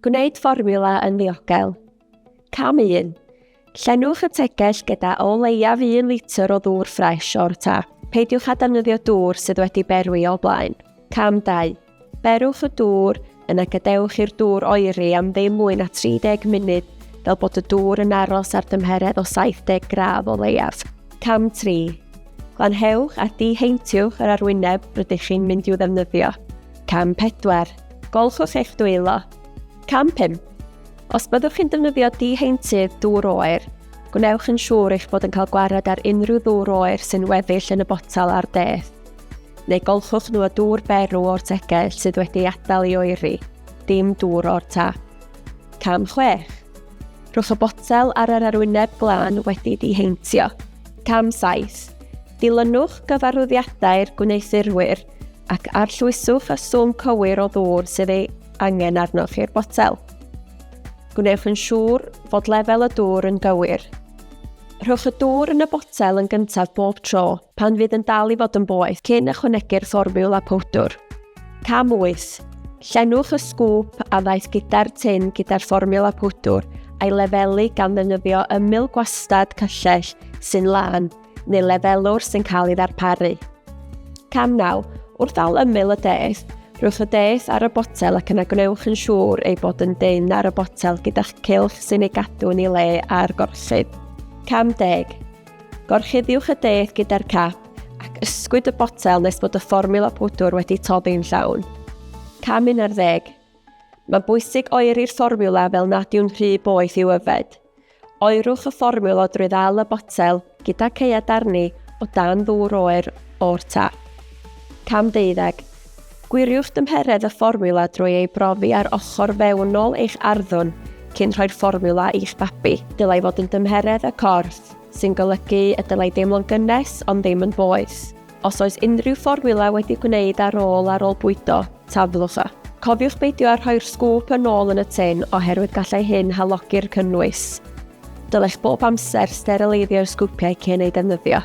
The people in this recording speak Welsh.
Gwneud fformiwla yn ddiogel. Cam 1. Llenwch y tegell gyda o leiaf un litr o ddŵr ffres o'r tap. Peidiwch â defnyddio dŵr sydd wedi berwi o blaen. Cam 2. Berwch y dŵr, yna gadewch i'r dŵr oeri am ddim mwy na 30 munud fel bod y dŵr yn aros ar dymheredd o 70 gradd o leiaf. Cam 3. Glanhewch a diheintywch yr arwyneb rydych chi'n mynd i'w ddefnyddio. Cam 4. Golchwch eich dwylo. Cam 5. Os byddwch chi'n defnyddio diheintydd dŵr oer, gwnewch yn siŵr eich bod yn cael gwared ar unrhyw ddŵr oer sy'n weddill yn y botel ar deth, neu golchwch nhw â dŵr berw o'r tegell sydd wedi adael i oeri, dim dŵr o'r tap. Cam 6. Rhwch y botel ar yr arwyneb glân wedi diheintio. Cam 7. Dilynwch gyfarwyddiadau'r gwneuthurwyr ac arllwyswch y swm cywir o ddŵr sydd ei angen arnoch i'r botel. Gwnewch yn siŵr fod lefel y dŵr yn gywir. Rhowch y dŵr yn y botel yn gyntaf bob tro pan fydd yn dal i fod yn boeth cyn ychwanegu'r fformiwla powdwr. Cam 8. Llenwch y sgwp a ddaeth gyda'r tin gyda'r fformiwla pwdwr a'i lefelu gan ddefnyddio ymyl gwastad cyllell sy'n lân neu lefelwr sy'n cael ei ddarparu. Cam 9. Wrth al ymyl y deth, rhywch y deth ar y botel ac yna gwnewch yn siŵr ei bod yn dyn ar y botel gyda'ch cilch sy'n ei gadw yn ei le ar gorchudd. Cam 10. Gorchuddiwch y deth gyda'r cap ac ysgwyd y botel nes bod y fformiwla pwdwr wedi toddi'n llawn. Cam 11. Mae'n bwysig oeri'r fformiwla fel nad yw'n rhy boeth i'w yfed. Oerwch y fformiwla drwy ddal y botel gyda caead arni o dan ddŵr oer o'r tap. Cam 12. Gwiriwch dymheredd y fformiwla drwy ei brofi ar ochr fewnol eich arddwn cyn rhoi'r fformiwla i'ch babi. Dylai fod yn dymheredd y corff, sy'n golygu y dylai deimlo'n gynnes ond ddim yn boeth. Os oes unrhyw fformiwla wedi gwneud ar ôl ar ôl bwydo, taflwch y. Cofiwch beidio â rhoi'r sgwp yn ôl yn y tin oherwydd gallai hyn halogi'r cynnwys. Dylech bob amser sterilaiddio'r sgwpiau cyn eu defnyddio.